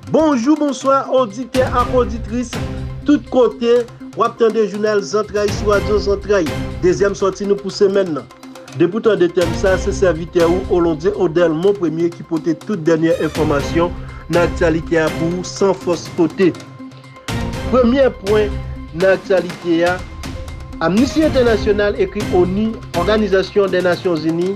Bonjou bonswa oditè ak oditris tout kote wap tande jounal zantray sou radyo zantray dezyèm sòti nou pou semèn nan depi ou tande tèm sa se sèvitè ou Olondie Odel Monpremye ki pote tout dènyè enfòmasyon nan aktyalite a pou ou san fòs kote. Premye pwen nan aktyalite a, Amnisti Entènasyonal ekri onu, Òganizasyon dè Nasyon Zini,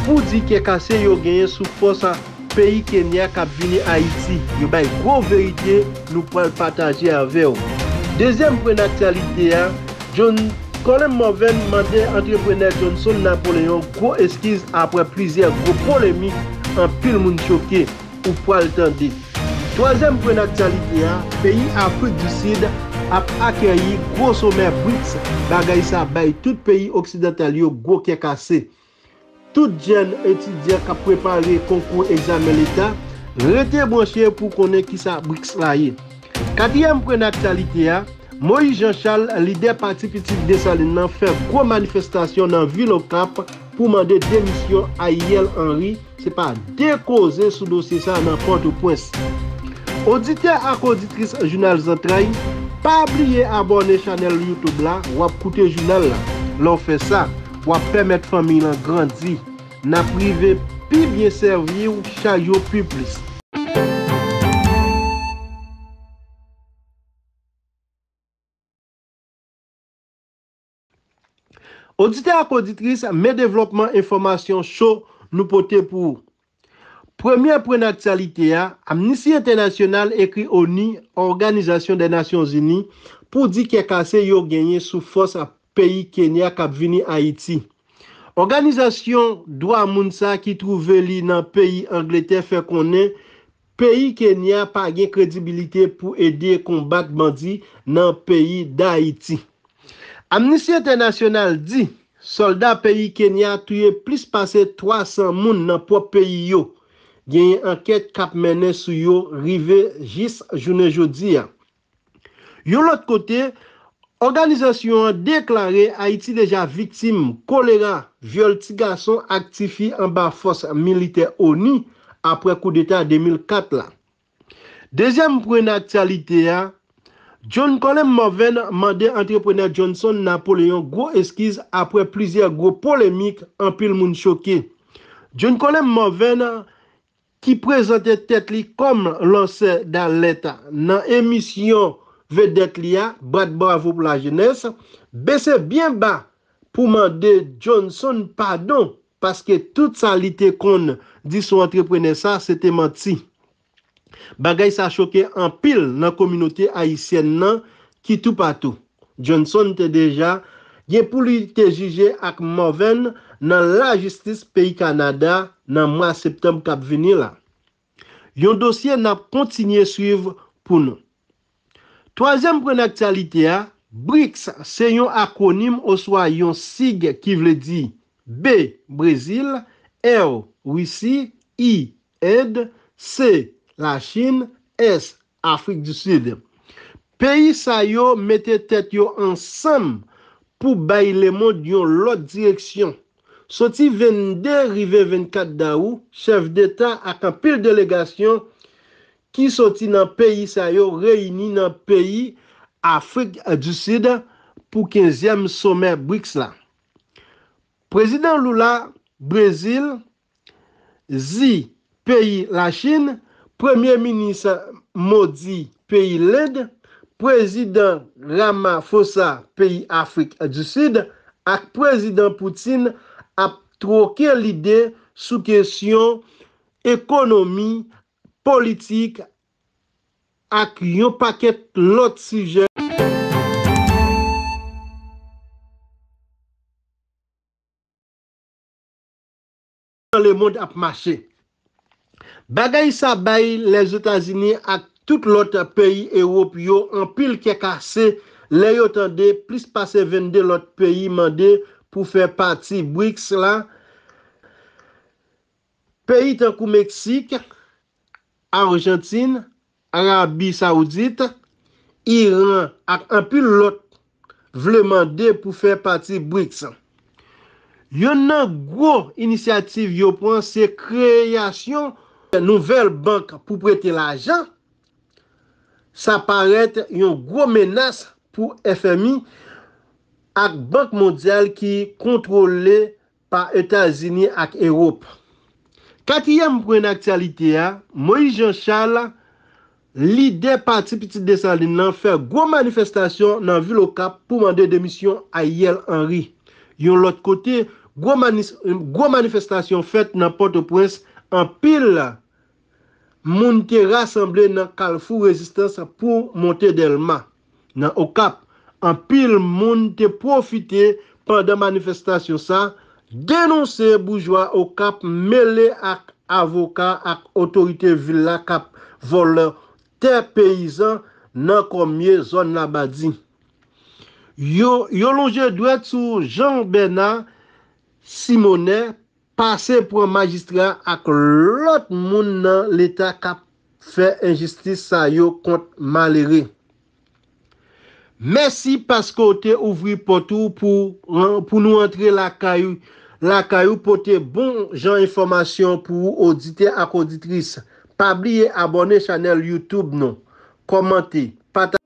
pou di kè kase yo genyen sou fòs peyi Kenya k ap vini Ayiti. Yo bay gwo verite nou pral pataje avè w. Dezyèm pwen nan aktyalite a, John Colem Morven mande antreprenè Johnson Napoleon gwo eskiz apre plizyè gwo polemik anpil moun choke. ou pwal tande. Twazyèm pwen nan aktyalite a, peyi Afrik di Sid ap akèyi gwo somè Brics, bagay sa bay tout peyi oksidantal yo gwo kè kase. Tout jèn etidyan kap prepare konkou egzamen leta, rete branche pou konnen kisa Brics la ye. Katriyèm pwen nan aktyalite a, Moïse Jean Charles, lidè Pati Pitit Desalin nan fè gwo manifestasyon nan vil Okap pou mande demisyon Ayièl Henry, se pa 2 koze sou dosye sa nan Pòtopwens. Oditè ak oditris Jounal Zantray, pa bliye abòne chanèl YouTube la, wap koute jounal la. Lè w fè sa, wap pèmèt fanmiy lan grandi. Nap rive pi byen sèvi w chak jou pi plis. Oditè ak oditris, men devlòpman enfòmasyon cho nou pote pou ou. Premye pwen nan aktyalite a, Amnisti Entènasyonal ekri onu, Òganizasyon dè Nasyon Zini, pou di kè kase yo genyen sou fòs peyi Kenya k ap vini Ayiti. Òganizasyon dwa moun sa ki twouve li nan peyi Angletè fè konnen peyi Kenya pa gen kredibilite pou ede konbat bandi nan peyi Dayiti. Amnisti Entènasyonal di sòlda peyi Kenya touye plis pase 300 moun nan pwòp peyi yo. Genyen ankèt k ap mennen sou yo rive jis jounen jodi a. Yon lòt kote, òganizasyon an deklare Ayiti deja viktim kolera, vyòl ti gason ak ti fi anba fòs militè onu apre koudeta 2004 la. Dezyèm pwen nan aktyalite a, John Colem Morven mande antreprenè Johnson Napoleon gwo eskiz apre plizyè gwo polemik anpil moun choke. John Colem Morven, ki prezante tèt li kòm lansè dalèt nan emisyon vedèt li a, Bat Bravo Pou Lajenès, bese byen ba pou mande Johnson padon paske tout sa li te konn di sou antreprenè sa se te manti. Bagay sa choke anpil nan kominote ayisyèn nan ki toupatou. Johnson te deja gen pou li te jije ak Morvan nan lajistis peyi Kanada nan mwa septanb kap vini la. Yon dosye nap kontinye swiv pou nou. Twazyèm pwen naktyalite a, BRICS se yon akwonim oswa yon sig ki vle di, B, Brezil, R, Risi, I, End, C, Lachin, S, Afrik di Sid. Peyi sa yo mete tèt yo ansanm pou bay lemond yon lòt direksyon. Soti 22 rive 24 dawou, chèf deta ak anpil delegasyon ki soti nan peyi sa yo reyini nan peyi Afrik di Sid pou kenzyèm somè BRICS la. Prezidan Lula, Brezil, Xi peyi Lachin, Premye Minis Modi peyi Lend, Prezidan Ramaphosa peyi Afrik di Sid ak Prezidan Putin ap twoke lide sou kesyon ekonomi, politik ak yon pakèt lòt sijè. Jan lemond ap mache. Bagay sa bay Lèzetazini ak tout lòt peyi Ewop yo anpil kè kase lè yo tande plis pase 22 lòt peyi mande pou fè pati BRICS la, peyi tankou Meksik, Arjantin, Arabi Saoudit, Iran ak anpil lòt vle mande pou fè pati BRICS. Yonn nan gwo inisyativ yo pran se kreyasyon nouvèl bank pou prete lajan. Sa parèt yon gwo menas pou FMI ak Bank Mondyal ki kontwole pa Etazini ak Ewop. Katriyèm pwen nan aktyalite a, Moyiz Jan Chal, lidè pati Pitit Desalin lan fè gwo manifestasyon nan vil Okap pou mande demisyon Aryèl Anri. Yon lòt kote, gwo manifestasyon fèt nan Pòtoprens, anpil Moun te rasanble nan kalfou rezistans pou monte Dèlma. Nan Okap, anpil moun te pwofite pandan manifestasyon sa denonse boujwa Okap mele ak avoka ak otorite vil la kap vòlò tè peyizan nan kòmye zòn Labadi. Yo yo lonje dwèt sou Jean Bernard Simonet Pase pran majistra ak lot moun nan leta kap fè enjistis sa yo kont malere. Mèsi paske w te ouvri pòt ou pou nou antre lakay lakay ou pote bon jan enfòmasyon pou ou oditè ak oditris. Pa bliye abòne chanèl youtube nou, kòmante, pataje.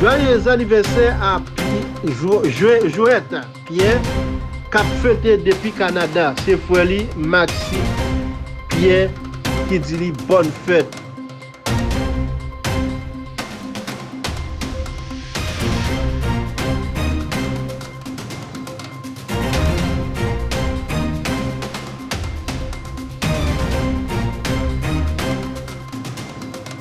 Joyeux anniversaire a jouet pierre kap fete depi Canada se frè li Maxi pierre ki di li bòn fèt.